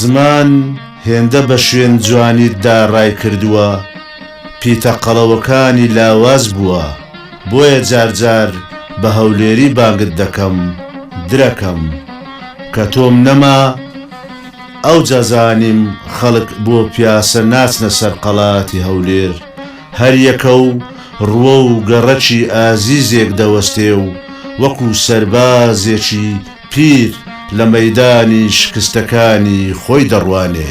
زمان هێندە بە شوێن جوانیتدا ڕایکردووە، پیتە قەڵەوەکانی لاواز بووە، بۆیە جار جار بە هەولێری بانگت دەکەم، درەکەم. کە تۆم نەما. ئەوجا زانیم خەڵک بۆ پیاسە ناچنە سەر قەڵاتی هەولێر، هەریەکە و ڕووە و گەڕەکی ئازیزێک دەوەستێ و وەکو سەربازێکی پیر لە مەیدانی شکستەکانی خۆی دەڕوانێ.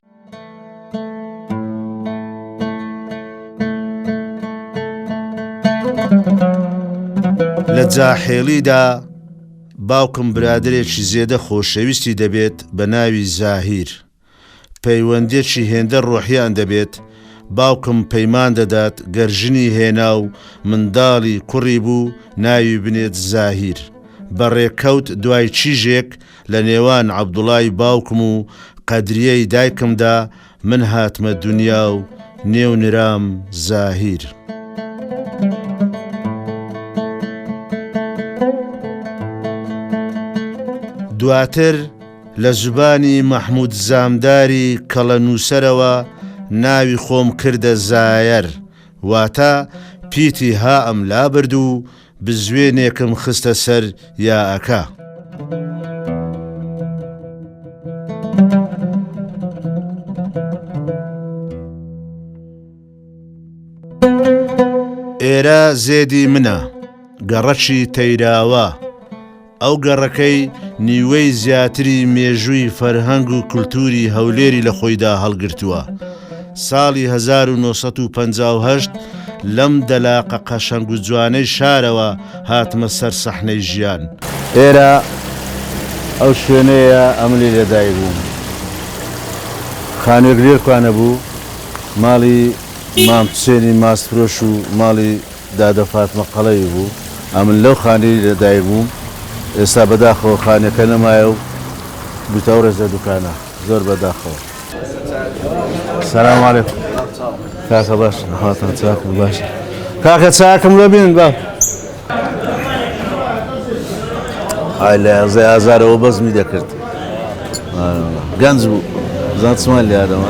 لە جاحێڵیدا باوکم برادێکی زێدە خۆشەویستی دەبێت بە ناوی زاهیر. پەیوەندێکی هێندە ڕۆحیان دەبێت، باوکم پەیمان دەدات گەرژنی هێنا و منداڵی کوڕی بوو ناوی بنێت زاهیر. بەڕێکەوت دوای چیژێک لە نێوان عەبدوڵای باوکم و قەدریەی دایکمدا من هاتمە دونیا و نێو نرام زاهیر. دواتر لە زبانی مەحمود زامداری کەڵە نووسەرەوە ناوی خۆم کردە زایەر واتە پیتی هائم لابرد و بزوێنێکم خستە سەر یاەکە. ئێرە زێدی منە، گەڕەکی تەیراوە. ئەو گەڕەکەی نیوەی زیاتری مێژووی فەرهەنگ و کولتووری هەولێری لە خۆیدا هەڵگرتووە. ساڵی 1958 لەم دەلاقە قەشەنگ و جوانەی شارەوە هاتمە سەر سەحنەی ژیان. ئێرە ئەو شوێنەیە ئەملی لەدایک بووم. خانوویەک لێرکوانە بوو، ماڵی مام حوسێنی ماستفرۆش و ماڵی، دادە فاتمە قەڵەوی بوو، ئەمن لەو خانەی لە دایک بووم، ئێستا بەداخەوە خانەکە نەمایە و بوویتە ئەو ڕێزە دوکانە، زۆر بە داخەوە. سلام علیکم کاکە باش هاتان چاکم باش کاکە چاکم لە بێن با ئای لە یازە ئازارەوە بەزمی دەکرد گەنج بوو زان چمان لە یادەوە